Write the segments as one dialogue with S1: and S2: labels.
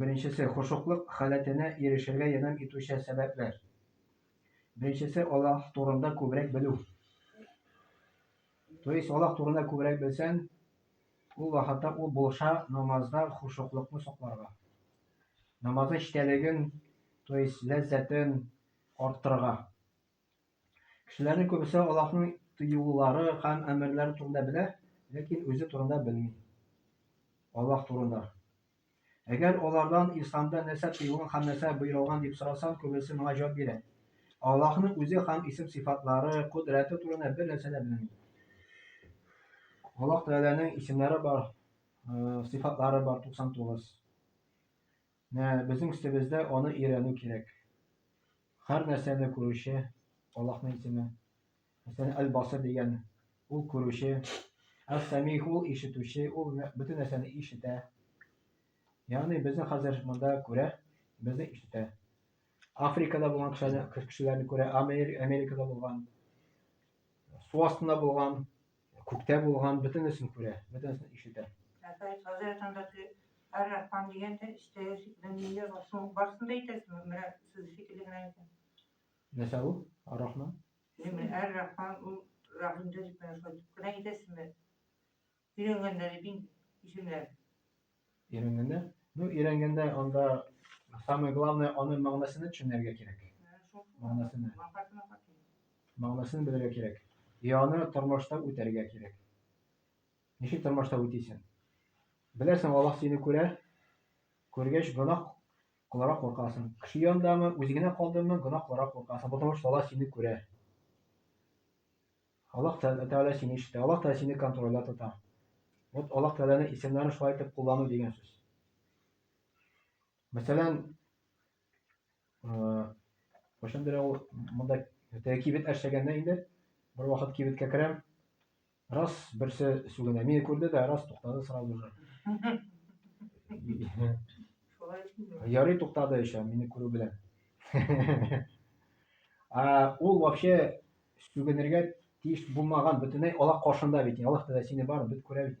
S1: Беренчесе, хошуклык халәтенә ирешергә ярдәм итүче сәбәпләр. Беренчесе, Аллаһ турында күбрәк белү. То есть, Аллаһ турында күбрәк белсәң, ул вакытта ул булыша намазда хошуклыкны сакларга. Намазның читәлеген, то есть, ләззәтен арттырырга. Кешеләрнең күбесе Аллаһның тыюлары һәм әмерләре турында белә, ләкин үзе турында белми. Аллаһ турында. Әгәр алардан Исламда нәрсә тыелган һәм нәрсә боерылган дип сорасаң, күбесе моңа җавап бирә, Аллаһның үзе һәм исем-сыйфатлары, кодрәте турында бер нәрсә дә белмим. Аллаһ Тәгаләнең исемнәре бар, сыйфатлары бар 99. Менә безнең өстебездә аны өйрәнү кирәк. Һәр нәрсәне күрүче Аллаһның исеме. Хәсән әл-Басри дигән, ул күрүче, әс-Сәмигъ, ул ишетүче, ул бөтен нәрсәне ишетә. Ягъни безне хәзер монда күрә, безне ишетә. Африкада булган кешеләрне күрә, Америкада булган, су астында булган, күктә булган, бөтенесен күрә, бөтенесен ишетә. Әфәс хәзрәт андагы Ар-Рахман
S2: дигәндә истәясез дөнья басуын барсын да әйтәсезме? Менә сез
S1: шикелле генә икән. Нәрсә ул? Ар-Рахман? Сине
S2: Әр-Рахман ул Рахимда дип менә шулай дип кенә әйтәсеңме?
S1: Өйрәнгәннәре бин исемнәр. Өйрәнгәннәр? Ну, өйрәнгәндә анда самое главное аның мәгънәсенә төшенергә кирәк. Мәгънәсенә. Мәгънәсен белергә кирәк. И аны тормышта үтәргә кирәк. Ничек тормышта үтисең? Беләсең, Аллаһ сине күрә. Күргәч, гөнаһ Кыларак куркасың. Кеше яндамы, үзе генә калдымы, гына кыларак куркасың, потому что Аллаһ сине күрә. Аллаһ Тәгалә сине ишетә, Аллаһ Тәгалә сине контрольдә тота. Вот Аллаһ Тәгаләне исемнәрен шулай итеп куллану дигән сүз. Мәсәлән, кайчандыр ул монда тәки бит әшәгәндә инде бер вакыт кибеткә керәм, Раз берсе сүгенә мине күрде дә, раз туктады сразу же. Ярый туктады еще, мине күрү белән. А ул вообще сүгенергә тиеш булмаган бөтенләй алак каршында бит. Алак да сине бар, бит күрә бит.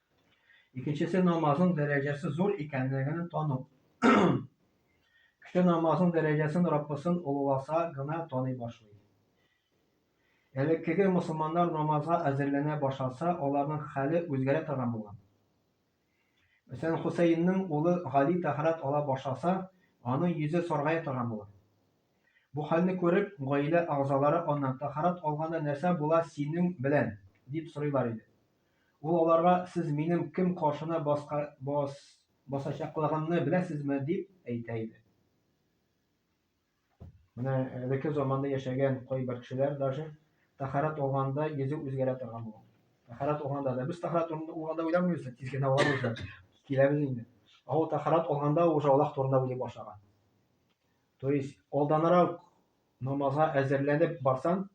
S1: Икенчесе намазның дәрәҗәсе зур икәнлеген тану. Кеше намазның дәрәҗәсен Раббысын олыласа гына таный башлый. Элеккеге мөселманнар намазга әзерләнә башласа, аларның хәле үзгәрә торган булган. Мәсәлән, Хусәйннең улы Гали тәһарәт ала башласа, аның йөзе саргая торган була. Бу хәлне күреп, гаилә әгъзалары аннан, Тәһарәт алганда нәрсә була синең белән? дип сорыйлар иде. Ул аларга, Сез минем кем каршына баска, бас, басачаклыгымны беләсезме? дип әйтә иде. Менә элекке заманда яшәгән кайбер кешеләр даже тахарат алганда йөзе үзгәрә торган булган. Тахарат алганда да без тахарат алганда уйламыйбыз, тиз генә алабыз да киләбез инде. Ә ул тахарат алганда уже Аллаһ турында уйлый башлаган. То есть алданрак намазга әзерләнеп барсаң,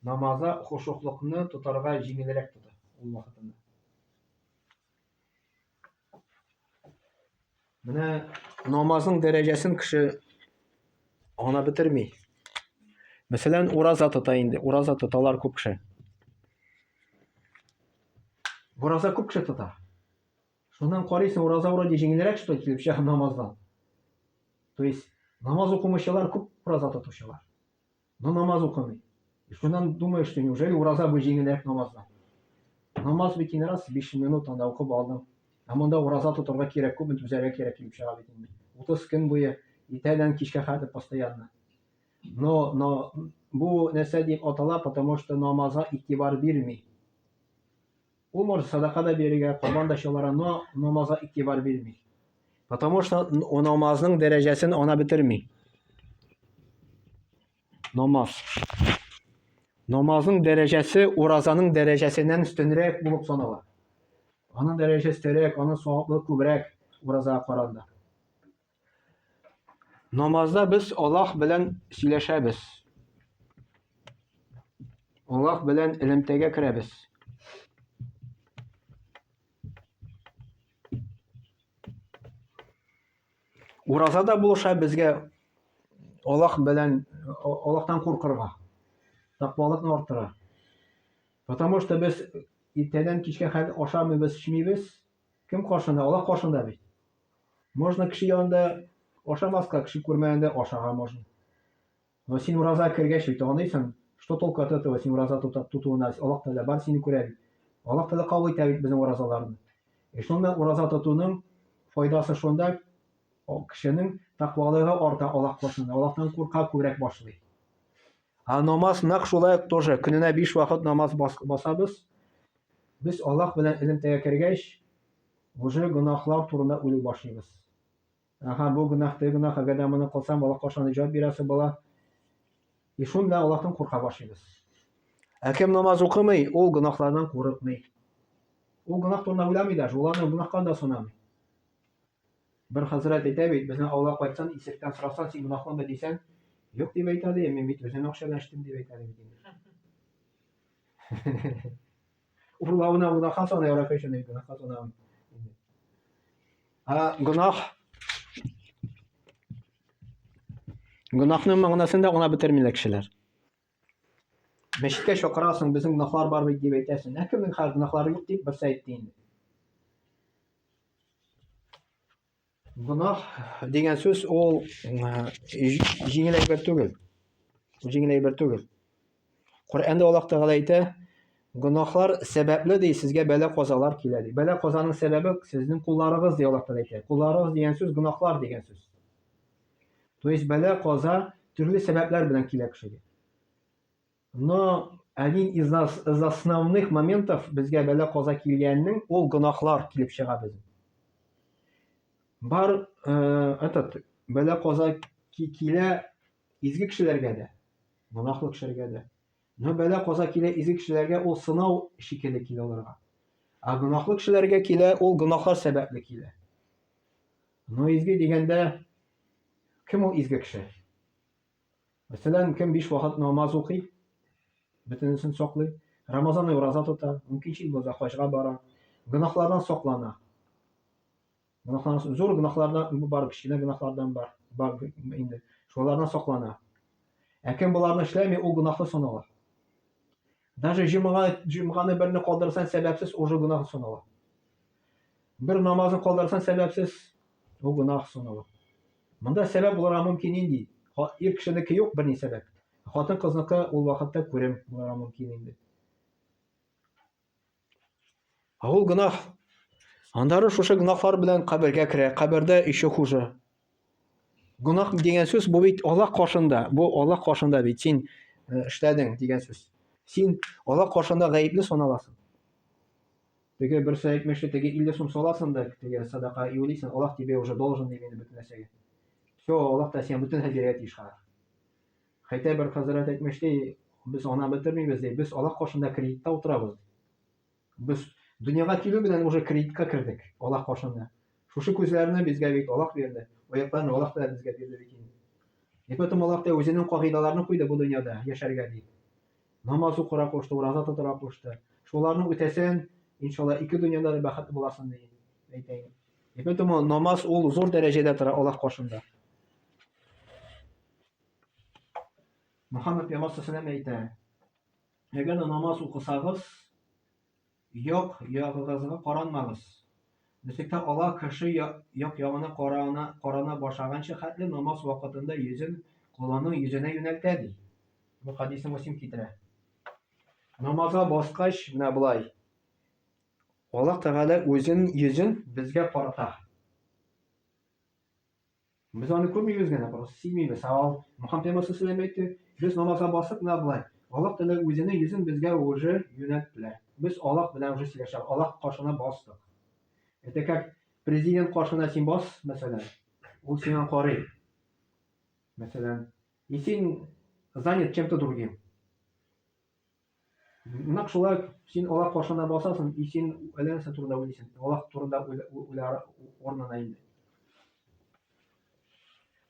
S1: Намаза хошуклыкны тотарга җиңелрәк тота ул вакытында. Менә намазның дәрәҗәсен кеше ана бетерми. Мәсәлән, ураза тота инде, ураза тоталар күп кеше. Ураза күп кеше тота. Шуннан карыйсың, ураза вроде җиңелрәк что килеп чыга намаздан. То есть намаз укымыйчалар күп ураза тотучылар. Но намаз укымый. И шуннан думаешь, что неужели ураза бу җиңелрәк намаздан? Намаз бит инде раз 5 минут анда укып алдың. Ә монда ураза тотарга кирәк, күпме түзәргә кирәк килеп чыга бит инде. 30 көн буе иртәдән кичкә хәтер постоянно. Но, но бу нәрсә дип атала, потому что намазга игътибар бирми. Умар садака да бирергә, корбан да чалара, но намазга игътибар бирми. Потому что намазның дәрәҗәсен ана бетерми. Намаз. Намазның дәрәҗәсе уразаның дәрәҗәсеннән өстенрәк булып санала. Аның дәрәҗәсе өстәрәк, аның саваплы күбрәк уразага караганда. Намазда без Аллаһ белән сөйләшәбез. Аллаһ белән элемтәгә керәбез. Уразада булыша безгә Аллаһ белән Аллаһтан куркырга, тақвалыкны арттыра. Потому что без иртәдән кичкә хәл ашамыйбыз, эчмибез, Кем каршында? Аллаһ каршында бит. Можно кеше янында ашамаска, кеше күрмәгәндә ашарга можно. Но син ураза кергәч бит аңлыйсың, что толк от этого син ураза тотуына, Аллаһ Тәгалә бар сине күрә бит. Аллаһ Тәгалә кабул итә бит безнең уразаларны. И шунда ураза тотуның файдасы шунда, кешенең тәкъвалыгы арта Аллаһ каршында, Аллаһтан курка күбрәк башлый. А намаз нәкъ шулай тоже, көненә 5 вакыт намаз басабыз. Без Аллаһ белән элемтәгә кергәч, уже гөнаһлар турында уйлый башлыйбыз. Аха, бу гөнаһ, теге гөнаһ, әгәр дә моны кылсам, Аллаһка шундый җавап бирә соң бала. И шунда Аллаһтан курка башлыйбыз. Ә кем намаз укымый, ул гөнаһлардан курыкмый. Ул гөнаһ турында уйламый даже, ул аны гөнаһка да санамый. Бер хәзрәт әйтә бит, безнең авылга кайтсаң, исеректән сорасаң, син гөнаһлымы дисәң, юк дип әйтә ди, мин бит үзем акчадан эчтем дип әйтә ди бит инде. Урла уна уна хас ана яра кайшын ей гына хас ана. А гынах. Гынахның мәгънәсен дә гына бетермиләр кешеләр. Мәчеткә чакырасың, безнең гынахлар бар бит дип әйтәсең. Ә кемнең хәзер гынахлары юк дип берсе әйтте инде. Гөнаһ дигән сүз ул җиңел әйбер түгел. Җиңел әйбер түгел. Коръәндә Аллаһ Тәгалә әйтә, гөнаһлар сәбәпле ди сезгә бәла казалар килә ди. Бәла казаның сәбәбе сезнең кулларыгыз ди Аллаһ Тәгалә әйтә. Кулларыгыз дигән сүз гөнаһлар дигән сүз. То есть бәла каза төрле сәбәпләр белән килә кешегә. Но один из нас из основных моментов безгә бәла каза килгәннең ул гөнаһлар килеп чыга без. Бар э, этот бәла каза килә изге кешеләргә дә, гөнаһлы кешеләргә дә. Но бәла каза килә изге кешеләргә ул сынау шикелле килә аларга. Ә гөнаһлы кешеләргә килә ул гөнаһлар сәбәпле килә. Но изге дигәндә кем ул изге кеше? Мәсәлән, кем биш вакыт намаз укый, бөтенесен саклый, Рамазан ай ураза тота, мөмкин чит булса хаҗга бара, гөнаһлардан саклана. Гөнаһлардан зур гөнаһлардан бу бар, кечкенә гөнаһлардан бар, бар инде. Шулардан саклана. Ә кем боларны эшләми, ул гөнаһлы санала. Даже җомга, җомганы берне калдырсаң сәбәпсез, уже гунах санала. Бер намазын калдырсаң сәбәпсез, ул гунах санала. Монда сәбәп булырга мөмкин инде. Ир кешенеке юк берни сәбәп. Хатын кызныкы ул вакытта күрем булырга мөмкин инде. Ә ул гынах. Аннары шушы гынахлар белән кабергә керә, кабердә ише хужа. Гынах дигән сүз бу бит Аллаһ каршында, бу Аллаһ каршында бит син э, эшләдең дигән сүз. Син Аллаһ каршында гаепле саналасың. Теге бер сәйкмешли, теге 50 сум саласың да, теге садака юлисың, Аллаһ тебе уже должен ди мине бөтен нәрсәгә. Все, Аллаһ та сиңа бөтен нәрсә бирә тиеш хәзер. Хәйтә бер хәзрәт әйтмеш, ди, без ана бетермибез, ди, без алак каршында кредитта утырабыз, ди. Без дөньяга килү белән уже кредитка кердек, алак каршында. Шушы күзләрне безгә бит алак бирде, аякларны алак та безгә бирде бит инде. И поэтому алак та үзенең кагыйдаларны куйды бу дөньяда яшәргә, ди. Намаз укырга кушты, ураза тотарга кушты. Шуларны үтәсәң, иншалла, ике дөньяда да бәхетле буласың, ди, әйтәйем. И поэтому намаз ул зур дәрәҗәдә тора алак каршында. Мөхәммәд пәйгамбәр сәләм әйтә, әгәр дә намаз укысагыз, як ягыгызга каранмагыз. Бөтеккә ала кеше як ягына карана, карана башлаганчы хәтле намаз вакытында йөзен колының йөзенә юнәлтә ди. Бу хадисны Муслим китерә. Намазга баскач, менә болай. Аллаһ Тәгалә үзен йөзен безгә карата. Без аны күрмибез генә, просто сизмибез. Ә ал Мөхәм темасы сүз әйтте. Без намазга басып менә болай. Аллаһ Тәгалә үзенең йөзен безгә уже юнәлтте. Без Аллаһ белән уже сөйләшәбез. Аллаһ каршына бастык. Это как президент каршына син бас, мәсәлән, ул сиңа карый. Мәсәлән, и син занят чем-то другим. Нәкъ шулай ук, син Аллаһ каршында басасың, и син әллә нәрсә турында уйлыйсың, Аллаһ турында уйла урынына инде.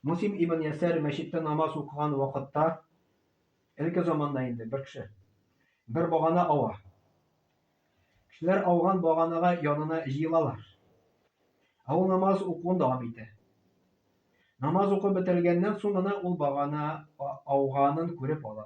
S1: Мусим ибн Ясәр мәчеттә намаз укыган вакытта, элге заманда инде бер кеше бер багана ава. Кешеләр ауган баганага янына җыелалар. Ә ул намаз укуын дәвам итә. Намаз укып бетергәннән соң гына ул багана ауганын күреп ала.